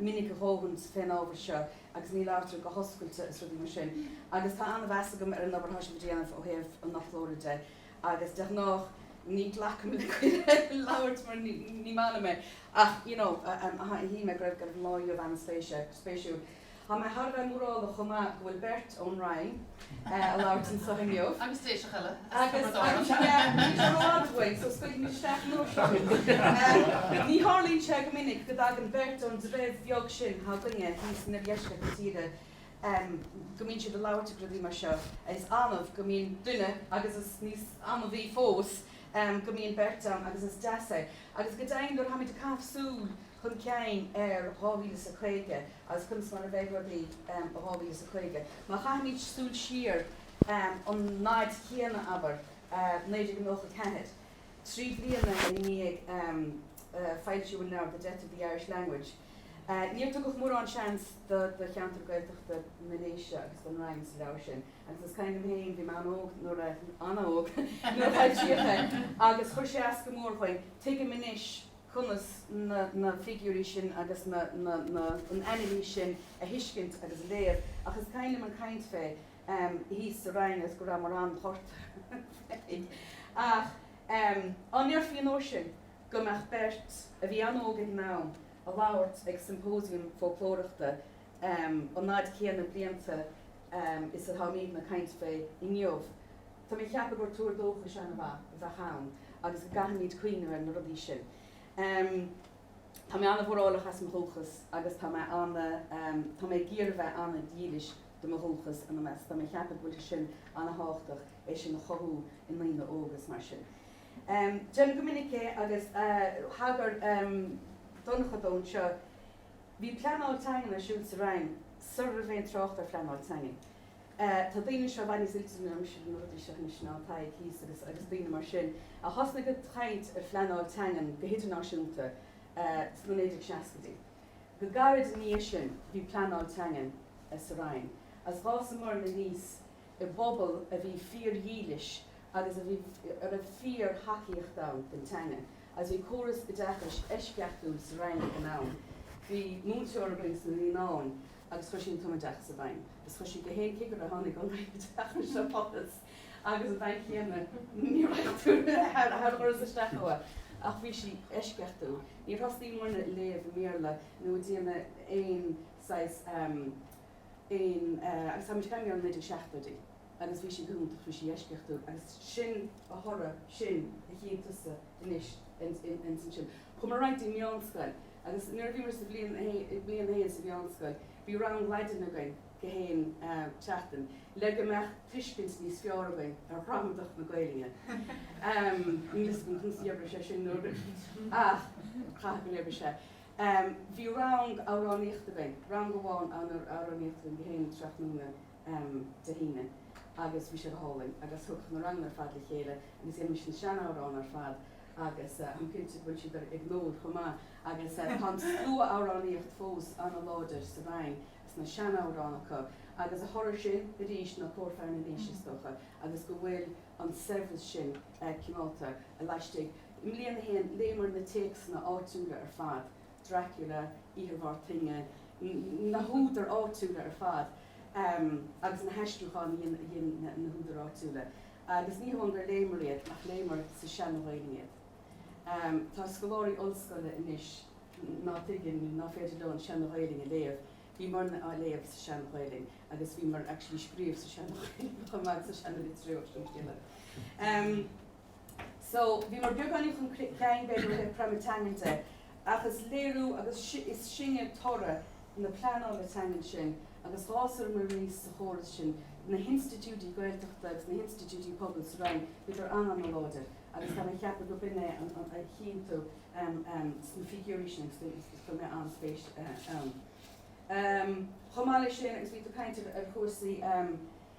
minic a dhóthain fén ábhar seo agus ní labhartar go hoscailte is rudaí mar sin agus tá an-mheas agam ar an obair atá sibh a dhéanamh ó thaobh an fhoclóra de agus de ghnáth ní ghlacaim le cuireadh labhairt mar ní maith liom é ach you know shíl mé go raibh an lá inniu ana spéisiúil. Tá mé thar a bheith mórálach chomh maith go bhfuil beirt ón Rinn ag labhairt anseo inniu. Agus Déiseach eile as Tiobraid Árann. Ní tharlaíonn sé go minic go dtagann beirt ón dtreibh bheag sin atá againne thíos in oirdheisceart na tíre, go mbíonn siad ag labhairt ag rudaí mar seo. Is annamh go mbíonn duine agus is níos annamhaí fós go mbíonn beirt ann agus is deas é. Agus go deimhin nuair a táimid ag caitheamh súil. chun cinn ar dhá mhíle is a caoga agus conas mar a bheidh rudaí um dhá mhíle is a caoga. Má chaithimid súil siar um an fhaid chéanna, abair, um naoi déag nócha ceathair, trí bliana i ndiaidh um foilsiú an leabhair The Death of the Irish Language, um níor tugadh mórán seans do do cheantar Gaeltachta na nDéise agus don Rinn sa leabhar sin agus is cuimhin liom féin, bhí mé an-óg nuair a, an-óg, nuair a foilsíodh é agus chuir sé as go mór dúinn. Tuigim anois conas na figiúirí sin agus an anailís sin a thuiscint agus a léamh ach is cuimhin liom an chaint fé thíos sa Rinn agus go rabhamar an-ghortaithe fé ach dá ndéarfaí an uair sin go mbeadh beirt a bhí an-óg ag an am ag labhairt ag siompóisiam fóclóireachta an fhaid chéanna blianta is atáimidne ag caint fé inniu. Tá mé a cheapadh gur tuar dóchais an-mhaith a bheadh ann agus go gcaithfimid cuimhneamh ar na rudaí sin. Tá mé an-mhórálach as mo dhúchas agus tá mé tá mé ag iarraidh bheith an-dílis do mo dhúchas ina measc. Tá mé a cheapadh go bhfuil sé sin an-tábhachtach é sin a chothú i ndaoine óga is mar sin. Déanaim go minic é agus thagair Donncha dó anseo. Bhí pleanáil teangan ar siúl sa Rinn sara raibh aon trácht ar phleanáil teangan. Tá daoine anseo i bhfad níos oilte ná mise ar na rudaí seo anois ná Tadhg thíos agus agus daoine mar sin a thosnaigh ag caint ar phleanáil teangan go hidirnáisiúnta sna 1960idí. Go gairid ina dhiaidh sin bhí pleanáil teangan sa Rinn is d'fhásamarna aníos i bpobal a bhí fíordhílis agus a bhí a raibh fíor thacaíocht ann don teangain. Is bhí córas oideachais eisceachtúil sa Rinn ag an am. Bhí múinteoir againn sna Naíonáin agus chuir sí an tumoideachas i bhfeidhm. Is chuir sí gach aon cigire a tháinig ón Roinn Oideachais a phost agus ag an am céanna níor bhfaca tú thar a chuireas isteach uirthi. Ach bhí sí eisceachtúil. Níor thosnaíomarna ag léamh i mBéarla ná ag déanamh aon saghas, aon, agus táimid ag caint ar na 1970idí. agus bhí sí go hiontach, bhí sí eisceachtúil agus sin a thoradh sin a chíonn tusa anois ansin. Chuamar ar aghaidh dtí'n meánscoil agus nuair a bhíomar sa bhliain a haon, i mbliain a haon sa mheánscoil, bhí rang Laidine againn gach aon tseachtain le go mbeadh tuiscint níos fearr againn ar ghramadach na Gaelinne. Níl a fhios agam conas a dh'oibrigh sé sin nuair ach caithfidh gur oibrigh sé. Bhí rang amhránaíochta againn, rang amháin amhránaíochta againn gach aon tráthnóna. Dé hAoine agus bhí sé go hálainn agus thug na ranganna ar fad le chéile agus dheinimís na sean-amhráin ar fad agus táim cinnte go bhfuil siad ag Noel chomh maith agus tá an slua amhránaíocht fós an-láidir sa Rinn agus na sean-amhráin acu agus a thoradh sin arís ná Cór Fear na nDéise is dócha agus go bhfuil an saibhreas sin coimeádta laistigh. I mbliain a haon léamar na téacsanna áitiúla ar fad Dracula, Oíche ar Bharr Toinne, na húdair áitiúla ar fad agus na haistriúcháin a dhein na húdair áitiúla. Agus ní hamháin gur léamar iad ach léamar sa tseana-Ghaelainn iad. Tá scoláirí ollscoile anois ná tuigeann nó ná féidir leo an tseana-Ghaelainn a léamh. Bhíomar-na á léamh sa tseana-Ghaelainn agus bhíomar actually ag scríobh sa tseana-Ghaelainn chomh maith, sa seana-litriú, ach sin scéal eile. So, bhíomar beagáinín chun cinn b'fhéidir ó thaobh creimeadh teangan de ach is léiriú agus is sinne toradh na pleanála teangan sin agus dh'fhásamar aníos sa chóras sin na hinstitiúidí Gaeltachta agus na hinstitiúidí pobail sa Rinn bhíodar an-an-láidir agus táim ag ceapadh gurb in é a chíonn tú sna figiúirí sin agus chuir mé an-spéis ann. Chomh maith leis sin agus bhí tú ag caint ar chúrsaí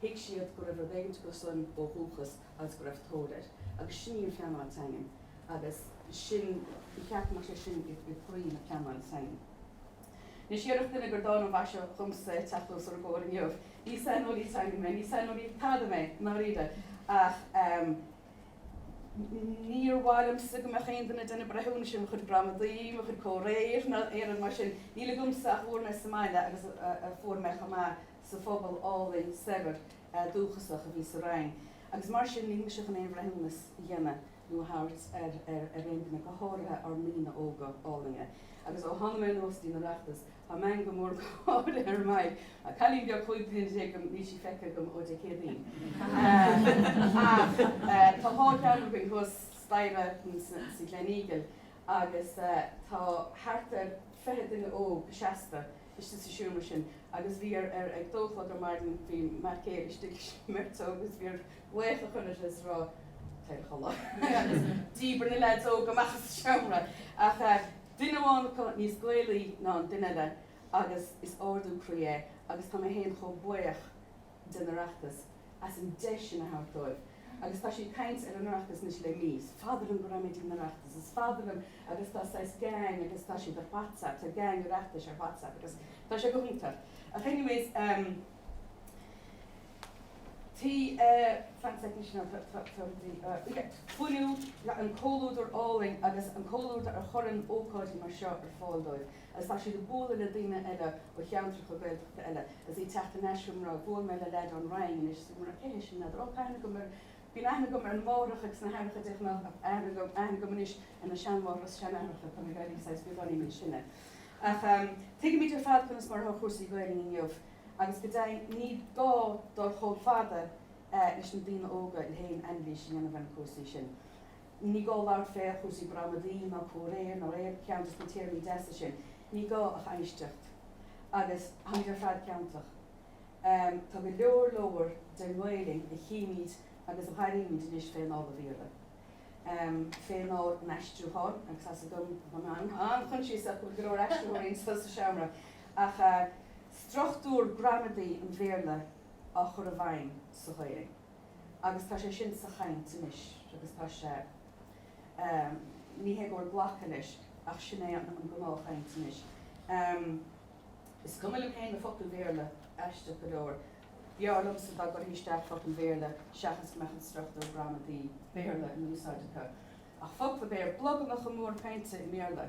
Thuig siad go raibh rud éigin acu san ó dhúchas agus go raibh tóir air. Agus sin í an phleanáil teangan. Agus sin, ba cheart go mbeadh sé sin i gcroí na pleanála teangan. Anois, déarfadh duine gur dána an mhaise dhomsa teacht os bhur gcomhair inniu. Ní saineolaí teangan mé, ní saineolaí tada mé, i ndáiríre. Ach níor mhaith liomsa go mbeadh aon duine ag déanamh breithiúnais ar mo chuid gramadaí, mo chuid comhréir, ná aon rud mar sin. Níl agamsa ach a bhfuair mé sa mbaile agus a fuair mé chomh maith. sa phobal álainn saibhir dúchasach a bhí sa Rinn agus mar sin nílimse chun aon bhreithiúnas a dhéanamh nó a thabhairt ar aon duine, go háirithe ár ndaoine óga álainne. Agus ó thána mé anuas dtí'n Oireachtas tá meangadh mór gáire ar m'aghaidh. Cailín beag chúig bliana déag agam, níl sí feicthe agam ó Dé Céadaoin. Ach tá dhá cheann againn thuas staighre sa Gleneagle agus tá thart ar fiche duine óg seasta istigh sa seomra sin agus bhí ar ar ag dó a chlog ar maidin bhí m'fhear céile istigh leis an mbeirt óg agus bhí air glaoch a chur orthu is a rá téir a chodladh agus díbir na leaids óga amach as an seomra ach eh duine amháin acu níos Gaelaí ná an duine eile agus is ardú croí é agus tá mé féin chomh buíoch den Oireachtas as an deis sin a thabhairt dóibh agus tá siad ag caint ar an Oireachtas anois le mí. Is fada liom go raibh an Oireachtas, is fada liom agus tá saghas gang agus tá siad ar Whatsapp, tá gang Oireachtais ar Whatsapp agus tá sé go hiontach ach anyways ehm tigh fan sec anois now tá tá tá rudaí ah yeah fiú an comhluadar álainn agus an comhluadar a chuireann ócáidí mar seo ar fáil dóibh. Is tá siad ag bualadh le daoine eile ó cheantracha Gaeltachta eile. is ag teacht anois. Bhuail mé le leaid ón Rinn anois is bhí mé, cé hé sin n'fheadar? Ó, tá aithne agam ar, bíonn aithne agam ar na máithreacha agus na haithreacha de ghnáth, aithne agam, aithne agam anois ar na seanmháithreacha is seanaithreacha, tá mé ag éirí saghas beagáinín níos sine. Ach tuigimid ar fad conas mar atá cúrsaí Gaelainne inniu agus go deimhin ní gá dul chomh fada leis na daoine óga le haon anailís a dhéanamh ar na cúrsaí sin. Ní gá labhairt fé chúrsaí gramadaí ná comhréir ná aon cheann dos na téarmaí deasa sin. Ní gá ach éisteacht. Agus táimid ar fad ciontach. Tá go leor leor den nGaelainn a chímid agus a airímid anois fé anáil an Bhéarla. Fé anáil an aistriúcháin, agus tá a fhios agam, táim an-choinsiasach go bhfuil go leor aistritheoirí anso sa seomra, ach struchtúr gramadaí an Bhéarla á chur i bhfeidhm sa Ghaelainn. agus tá sé sin sa chaint anois agus tá sé, ehm, ní hé go bhfuil glactha leis ach sin é an gnáthchaint anois. Ehm, is cuma liom féin na focail Bhéarla, aisteach go leor. B'fhearr liomsa dá gcuirfí isteach focail Bhéarla seachas go mbeadh an struchtúr gramadaí Béarla in úsáid acu. Ach focla Béar, blogamacha móra cainte i mBéarla.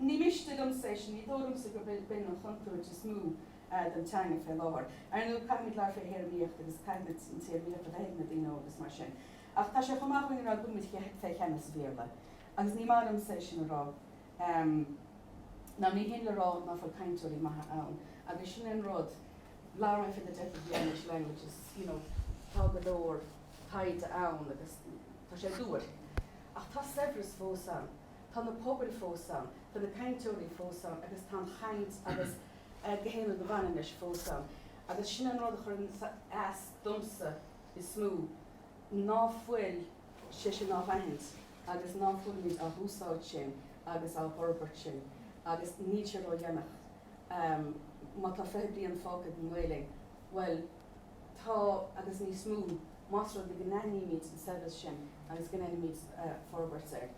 Ní miste liomsa é sin, ní dóigh liomsa gurb in an chontúirt is mó don teanga fé láthair. Ar ndóigh, caithfimid labhairt fé théarmaíocht agus caithfimid an téarmaíocht a bheith ag na daoine óga is mar sin. Ach tá sé chomh maith dúinn a rá go bhfuimid fé cheannas an Bhéarla. Agus ní maith liomsa é sin a rá. Ná ní shin le rá ná fuil cainteoirí maithe ann. Agus sin é an rud, labhair mé fé the death of the Irish language is you know tá go leor taighde ann agus tá sé duairc. Ach tá saibhreas fós ann. Tá na pobail fós ann, tá na cainteoirí fós ann agus tá an chaint agus gach aon rud a bhaineann leis fós ann. Agus sin an rud a chuireann as domsa is mó, ná fuil sé sin á aithint agus ná fuilimid á úsáid sin agus á fhorbairt sin agus níl sé ródhéanach. Má tá fiche bliain fágtha ag an nGaelainn, bhuel, tá agus níos mó más rud é go n-aithnímid an saibhreas sin agus go ndéanaimid forbairt air.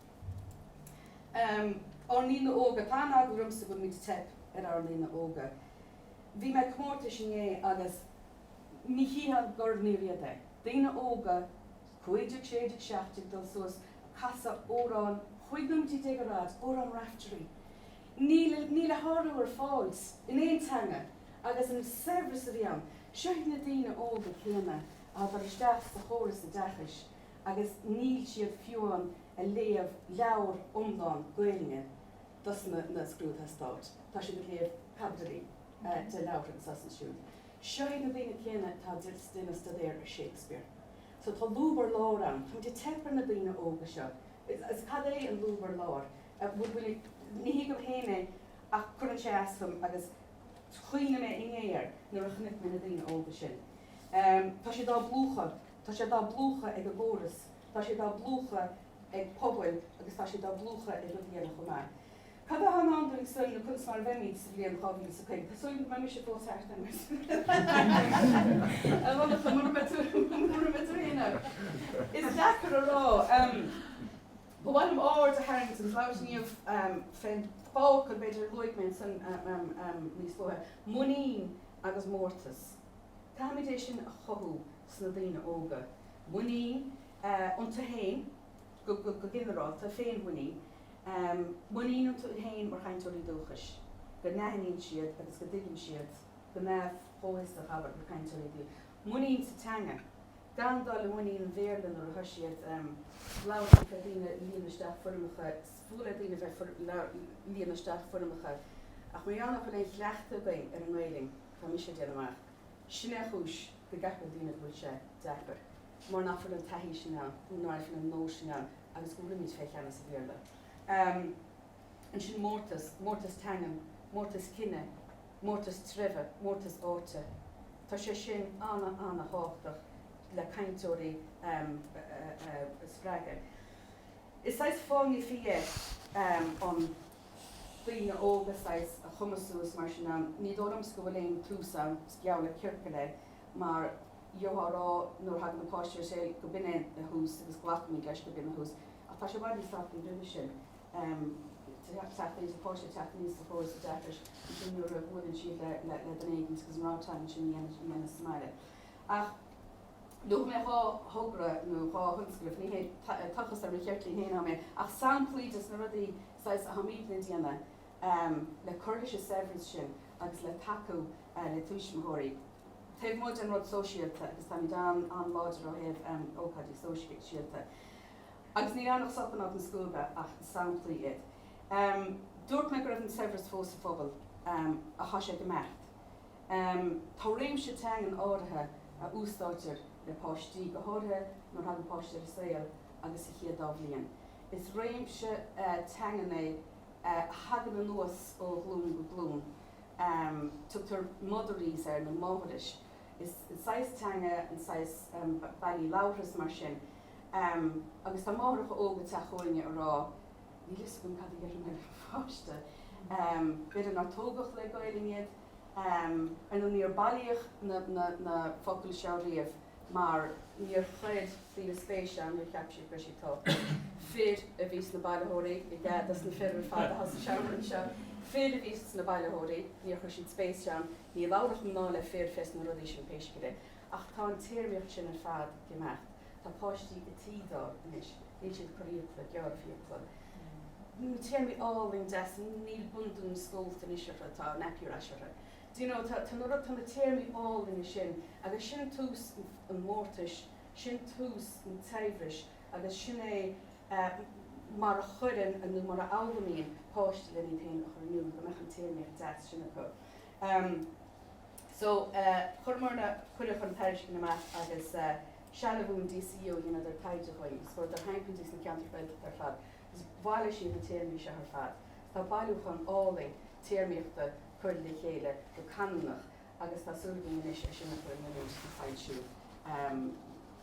Ár ndaoine óga, tá an-eagla ormsa go bhfuil muid ag teipeadh ar ár ndaoine óga. Bhí mé ag comórtas inné agus ní chífeá gurbh fhíor iad é. Daoine óga, cúig déag, sé déag, seacht déag, dul suas, ag casadh amhráin, 15 nóimintí déag ar fhad, amhrán Raiftearaí. Níl, níl a shárú ar fáil in aon teanga agus an saibhreas a bhí ann. Seo iad na daoine óga céanna a thagadh isteach sa chóras oideachais, agus níl siad fiú amháin ag léamh leabhar iomlán Gaelainne dos na scrúduithe stáit, tá siad ag léamh caibidilí de leabhartha anso is ansiúd. Seo iad na daoine céanna atá ag déanamh stuidéar ar Shakespeare. So tá lúb ar lár ann. Táimid ag teip ar na daoine óga seo. Agus cad é an lúb ar lár? Ní thuigim féin é ach cuireann sé as dom agus chuimhnigh mé inné air nuair a chonaic mé na daoine óga sin. Tá siad á bplúchadh. Tá siad á bplúchadh ag an gcóras, tá siad á bplúchadh ag pobail agus tá siad á bplúchadh ag rudaí eile chomh maith. Cad atá i ndán dúinn nó conas mar a bheimid sa bhliain 2050? Tá súil agam go mbeidh mise fós thart ann, a Dhonncha, mura mbeidh tú féin ann. Is deacair a rá. Ba mhaith liom aird a tharraingt agus labhairt inniu fén bhfocal b'fhéidir a luaigh mé ansin níos luaithe, muinín agus mórtas. Caithfimid é sin a chothú sna daoine óga, muinín iontu féin go ginearálta, féinmhuinín, muinín iontu féin mar chainteoirí dúchais, go n-aithníonn siad agus go dtuigeann siad go neamh-chomhfhiosach, abair, mar chainteoirí dúchais, muinín sa teanga, gan dul i muinín an Bhéarla nuair atá siad ag labhairt le daoine, líonadh isteach foirmeacha, is fuath le daoine a bheith ag líonadh isteach foirmeacha ach mar gheall nach bhfuil aon chleachtadh againn ar an nGaelainn. Tá mise ag déanamh amach. Sin é an chúis go gceapann daoine go bhfuil sé deacair, mar nach bhfuil an taithí sin ann, nó nach bhfuil an nós sin ann agus go bhfuilimid fé cheannas an Bhéarla. Ansin mórtas, mórtas teangan, mórtas cine, mórtas treibhe, mórtas áite. Tá sé sin ana, ana-thábhachtach le cainteoirí a spreagadh. Is saghas fáinne fí é an. daoine óga saghas a chumasú is mar sin ann. Ní dóigh liomsa go bhfuil aon tús ann, is geall le ciorcal é, mar gheofá a rá nuair a thagann na páistí ar saol go b'in é a thús agus glacaimid leis go b'in a thús ach tá sé i bhfad níos tábhachtaí roimhe sin teacht aníos, an páiste ag teacht aníos sa chóras oideachais ansin nuair a bhuaileann siad le duine éigin agus an rogha teanga sin a dhéanamh sa mbaile. Ach. Luaigh mé dhá thogra nó dhá thionscnamh, ní hé tochas ar mo cheirtlín féin dom é ach samplaí des na rudaí saghas atáimid á ndéanamh le cur leis an saibhreas sin agus le tacú le tuismitheoirí taobh amuigh den rud sóisialta agus táimid an-láidir ó thaobh ócáidí sóisialta agus níl ann ach sop in áit na scuaibe ach samplaí iad. Dúirt mé go raibh an saibhreas fós sa phobal, ach tá sé ag imeacht. Tá réimse teangan áirithe a úsáidtear le páistí, go háirithe nuair a thagann páiste ar an saol agus sa chéad dá bhliain. Is réimse teangan é a thagann anuas ó ghlúin go glúin. Tugtar motherese air nó máthairis. Is saghas teanga an saghas bealaí labhartha is mar sin. Agus tá máithreacha óga ag teacht chugainne ag rá, níl a fhios agam cad a dhéarfainn le mo pháiste, b'fhéidir nár tógadh le Gaelainn iad, Ar ndóigh níor bailíodh na focail seo riamh mar níor chuir daoine spéis ann, níor cheap siad go raibh siad tábhachtach. Fir a bhí sna bailitheoirí, i gcead dos na fir ar fad atá sa seomra anseo, fir a bhí sna bailitheoirí, níor chuir siad spéis ann, ní labhradh mná le fir fés na rudaí sin pé scéal é. Ach tá an téarmaíocht sin ar fad ag imeacht. Tá páistí ag teetháil anois, níl siad ag cur fiacla, gearradh fiacla, na téarmaí álainn deasa, níl bundún scólta anois orthu, tá nappy rash orthu. Do you know, tá na tá na téarmaí álainne sin agus sin tús an mhórtais, sin tús an tsaibhris agus sin é mar a chuireann nó mar a fhoghlaimíonn páistí len iad féin a chur in iúl, go mbeadh an téarmaíocht deas sin acu. So, chuireamar na, cuireadh an tairiscint amach agus Sealbhú in DCU a dheineadar taighde dúinn agus chuadar timpeall go dtí sna ceantair Ghaeltachta ar fad agus bhailigh siad na téarmaí seo ar fad. Tá bailiúchán álainn téarmaíochta curtha le chéile go canúnach agus tá súil againn anois é sin a chur in oiriúint do foilsiú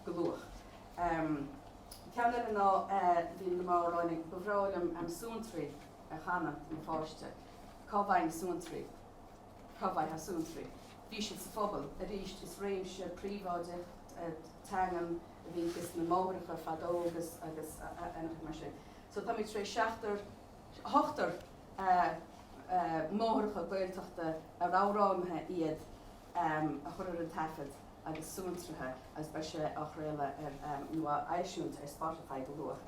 go luath. Ceann eile ná, bhí na mná ag rá linn, ba bhreá liom suantraí a chanadh do mo pháiste. Cá bhfaighim suantraí? Cá bhfaighfeá suantraí? Bhí siad sa phobal arís. Is réimse príobháideach teangan a bhí ages na máithreacha fadó agus agus mar sin. So táimid tar éis seachtar, ochtar máithreacha Gaeltachta ar amhránaithe iad a chur ar an taifead agus suantraithe agus beidh sé á chraoladh ar nó á eisiúint ar Spotify go luath.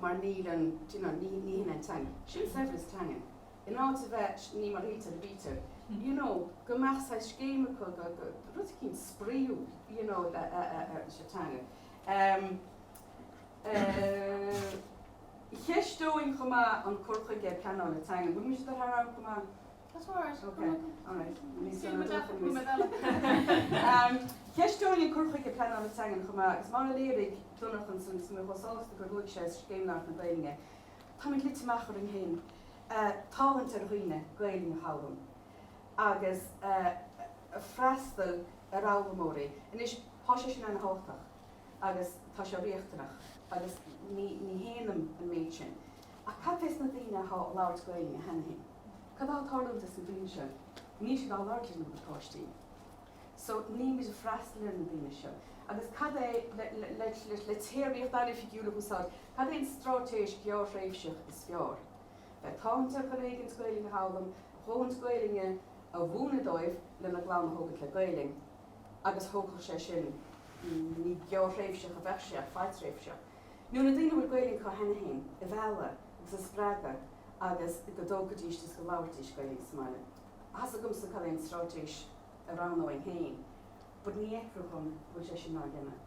mar níl an, do you know, ní, ní shin an teanga, sin saibhreas teangan. In áit a bheith, ní mar a shíltear a bítear, you know, go mbeadh saghas scéim acu, go, go, rud eicínt spraíúil, you know, le, a, a, a, sa teanga. Ehm, eh, cheisteoinn chomh maith an cur chuige pleanála teangan, bhfuil mise ag dul thar am chomh maith? That's all right. Ok, all right. Ní Sin mo deartháir nó mo mheileann. Cheisteoinn an cur chuige pleanála teangan chomh maith agus mar a léirigh Donncha ansan is mé chomh sásta gur luaigh sé Scéim Labhairt na Gaeilge. Táimid luite amach orainn féin tathant ar dhaoine Gaelainn a fhoghlaim agus a' freastal ar fhoghlaimeoirí. Anois tá sé sin an-tábhachtach agus tá sé riachtanach agus ní shéanaim an méid sin. Ach cad fé sna daoine athá a' labhairt Gaelainn cheana féin? Cad á tarlú dos na daoine sin? Níl siad á labhairt lena bpáistí. So níl muid a' freastal ar na daoine seo. Agus cad é, le téarmaíocht an-oifigiúil a úsáid, cad é an stráitéis ghearrthréimhseach is fearr? Bheith tathant ar chor éigint Gaelainn a fhoghlaim, dóthaint Gaelainne a mhúineadh dóibh lena gclann a thógaint le Gaelainn agus thógfadh sé sin, ní gearrthréimhseach a bheadh sé ach fadtréimhseach. nó na daoine a bhfuil Gaeilge acu cheana féin a mhealladh agus a spreagadh agus go dtógfaidís agus go labharfaidís Gaeilge sa mbaile. Tá's agamsa cad é an stráitéis a roghnóinn féin but ní fheictear dhom go bhfuil sé sin á dhéanamh.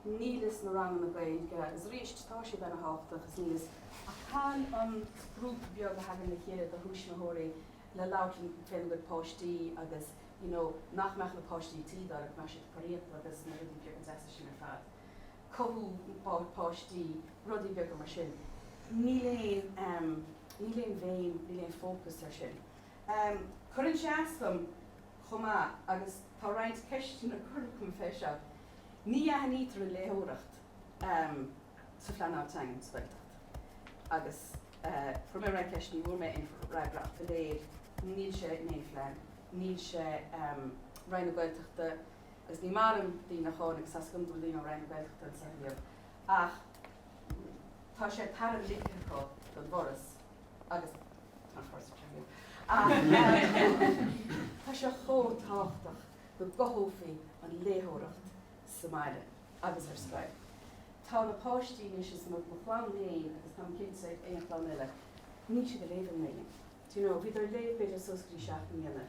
Níl fhios na ranganna Gaeilge agus arís tá siad ana thábhachtach agus níl fhios ach cá bhfuil an grúpa beag a thagann le chéile de thuismitheoirí le labhairt lena gcuid páistí agus you know nach mbeadh na páistí ag tí dul ach mbeadh siad ag cur fhiacal agus na rudaí beaga deasa sin ar fad. cothú páistí, rudaí beaga mar sin. Níl aon, níl aon bhéim, níl aon fócas ar sin. Cuireann sé as dom chomh maith agus tá roinnt ceisteanna curtha agam fé seo, ní aithnítear an léitheoireacht sa phleanáil teanga sa Ghaeltacht agus chuir mé roinnt ceisteanna, ní bhfuair mé aon fhreagra ach is léir, níl sé in aon phlean, níl sé, Roinn na Gaeltachta, agus ní maith liom daoine a cháineadh agus tá súil agam go bhfuil daoine ón Roinn na Gaeltachta anseo inniu ach tá sé tairbh ligthe acu don bhForas agus tá an Foras anseo inniu ach tá sé chomh tábhachtach go gcothófaí an léitheoireacht sa mbaile agus ar scoil. Tá na páistí anois, is iad mo chlann féin agus táim cinnte gach aon chlann eile, níl siad ag léamh i nGaelainn. do you know, bhíodar ag léamh b'fhéidir suas go dtí seacht mbliana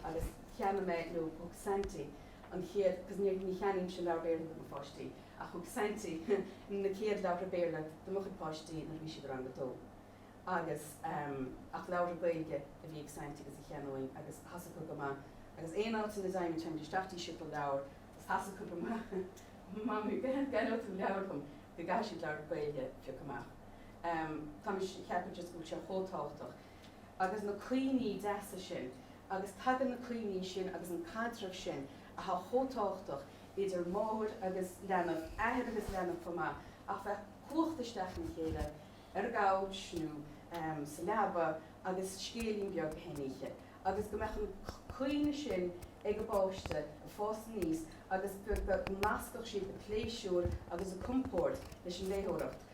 agus cheannaigh mé nó thug Saintí an chéad because ní, ní cheannaímse leabhar Béarla do mo pháistí ach thug Saintí na chéad leabhartha Béarla do mo chuid páistí nuair a bhí siad i rang a dó agus ehm ach leabhartha Gaeilge a bhí ag Saintí agus a cheannóinn agus thá's acu go maith agus aon áit ina dteighimis théimid isteach dtí siopa leabhar agus thá's acu go maith Mamaí, an gceannóidh tú leabhar dhom go gcaithfidh siad leabhartha Gaeilge a phiocadh amach. em tá mé ag ceapadh just go bhfuil sé chomh tábhachtach agus na cuimhní deasa sin agus tagann na cuimhní sin agus an caidreamh sin athá chomh tábhachtach idir máthair agus leanbh, athair agus leanbh chomh maith ach bheith cuachta isteach ina chéile ar an gcouch nó em sa leaba agus scéilín beag chaon oíche agus go mbeadh an cuimhne sin ag an bpáiste ag fás aníos agus go go nascfadh siad an pléisiúr agus an compord leis an léitheoireacht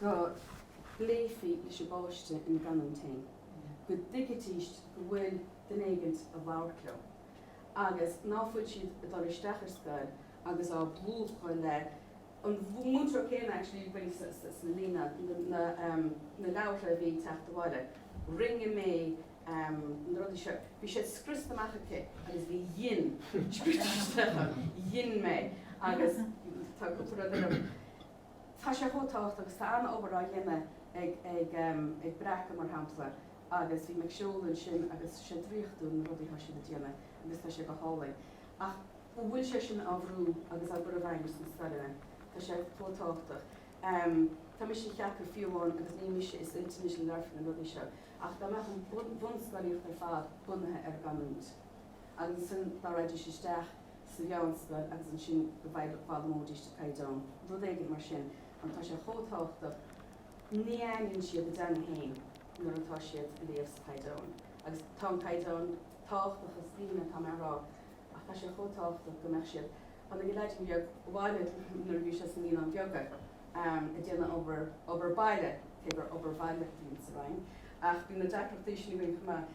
go bpléifí leis an bpáiste ina gcanúint féin, go dtuigfidís go bhfuil duine éigint ag labhairt leo agus ná fuil siad ag dul isteach ar scoil agus á bplúchadh le an múinteoir céanna actually ag baint sna líne na na leabhartha a bhí ag teacht abhaile rinne mé na rudaí seo bhí siad scriosta amach aici agus bhí dhein dhein mé agus tá cúpla rud eile tá sé chomh tábhachtach agus tá an-obair á dhéanamh ag ag Breacadh mar shampla agus bhí mé ag siúl ansin agus sé draíochtúil na rudaí atá siad ag déanamh agus tá sé go hálainn ach an bhfuil sé sin á bhrú agus á gcur i bhfeidhm sna scoileanna? Tá sé chomh tábhachtach. Tá mise ag ceapadh fiú amháin agus ní mise is intinne sin a labharfaidh na rudaí seo ach dá mbeadh an bhunscolaíocht ar fad bunaithe ar an gcanúint, Agus ansin dá raghaidís isteach sa mheánscoil agus ansin go bhfaighidís, go bhfoghlamóidís an caighdeán, rud éigin mar sin, an tá sé chomh tábhachtach, ní aithníonn siad a dteanga féin nuair atá siad ag léamh sa chaighdeán. Agus tá an caighdeán tábhachtach, ní hin é atá mé a rá, ach tá sé chomh tábhachtach go mbeadh siad, tháinig an leaidín beag abhaile nuair a bhí sé sna naíonáin bheaga, ag déanamh obair, obair baile, cé gur obair bhaile a bhíonn sa Rinn ach bíonn na deacrachtaí sin againn chomh maith.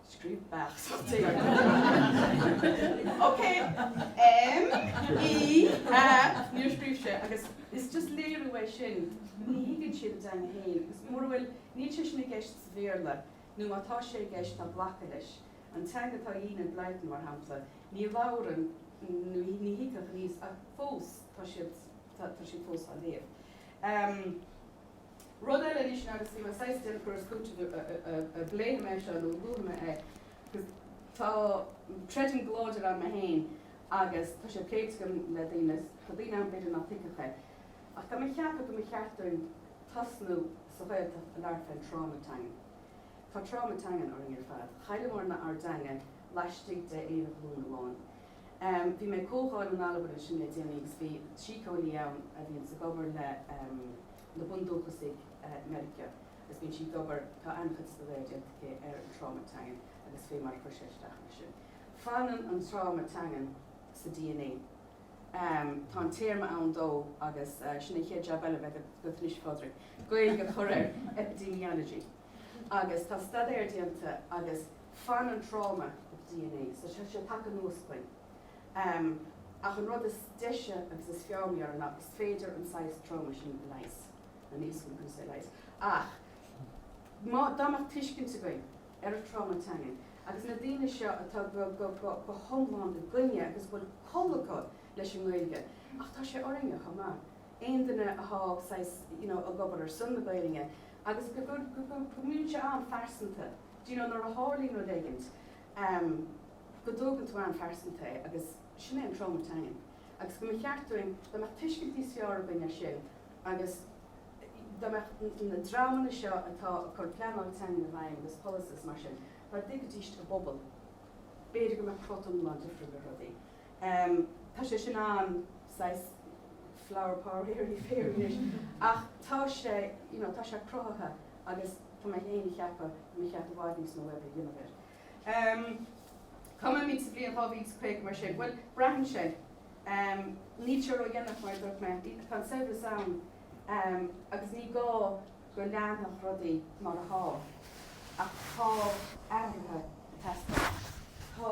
Scríobh beach sa tír. Okay. M, E, A, níor scríobh sé agus is just léiriú é sin, ní thuigeann siad a dteanga féin agus mura bhfuil, níl sé sin i gceist sa Bhéarla nó má tá sé i gceist, tá glactha leis. An teanga atá in Enid Blyton, mar shampla, ní labhrann, ní, ní thuigfeadh aníos ach fós tá siad, tá, tá siad fós á léamh. Em. Rud eile anois ná agus bhí mé saghas déanamh cur is cúiteamh an bpléifidh mé seo nó an luafaidh mé é agus tá creidim go láidir ann mé féin agus tá sé pléite agam le daoine agus tá daoine ann b'fhéidir nach dtuigfeadh é ach tá mé a cheapadh go mba cheart dúinn tosnú sa Ghaeltacht a labhairt faoin tráma teangan. Tá tráma teangan orainn ar fad. Chailleamar na ár dteanga laistigh de aon ghlúin amháin. Bhí mé ag comhdháil in Albain ansin le déanaí agus bhí síceolaí ann a bhíonns ag obair le, na bundúchasaigh Meiriceá agus bíonn sí ag obair, tá an-chuid staidéir déanta aici ar an tráma teangan agus fé mar a chuir sé isteach ar sin. Fanann an tráma teangan sa dna, tá an téarma ann dó agus sin an chéad jab eile a bheidh agat anois a Phádraig, Gaeilge a chur air, epidemiology. Agus tá staidéir déanta agus fanann tráma i do dna so tá sé tagtha anuas chugainn. Ach an rud is deise agus is fearr mar gheall air ná is féidir an saghas tráma sin a leigheas. Nó níos fusa a leigheas. Ach má, dá mbeadh tuiscint againn ar an tráma teangan agus na daoine seo atá go, go, go, go hiomlán i gcoinne agus bhfuil col acu leis an nGaeilge, ach tá sé orainne chomh maith, aon duine athá saghas, you know, ag obair ar son na Gaeilnge agus go, go, go, go mbíonn sé an-phearsanta, do you know, nuair a tharlaíonn rud éigint. Am, go dtógann tú an-phearsanta é agus sin é an tráma teangan. Agus go mba cheart dúinn dá mbeadh tuiscint níos fearr againn ar sin agus dá mbeadh na dreamanna seo atá ag cur pleanáil teangan i bhfeidhm agus polasaí is mar sin, dá dtuigfidís a bpobal, b'fhéidir go mbeadh crot iomlán difriúil ar rudaí. Am, tá sé sin an. saghas flower power airy fairy anois ach tá sé you know tá sé cruthaithe agus tá mé féin a cheapadh go mba cheart i bhfad níos mó oibre a dhéanamh air. Ehm cá mbeimid sa bhliain 2050 mar sin bhuel braitheann sé ehm níl sé ró dhéanach mar a dúirt mé bhí tá an saibhreas ann ehm agus ní gá go leanfadh rudaí mar atá ach tá athruithe ag teastáil tá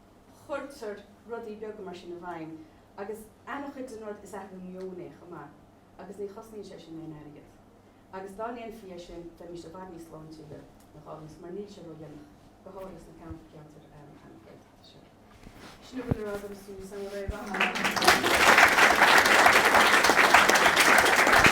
chuirtear rudaí beaga mar sin i bhfeidhm agus an-chuid den rud is athrú meoin é chomh maith agus ní chosnaíonn sé sin aon airgead agus dá ndéanfaí é sin bheimis i bhfad níos sláintiúla a Ghaillimh mar níl sé ródhéanach go háirithe sna ceantair ceantair an-Ghaeltachta seo. Sin a bhfuil le rá agam Súil san a raibh an.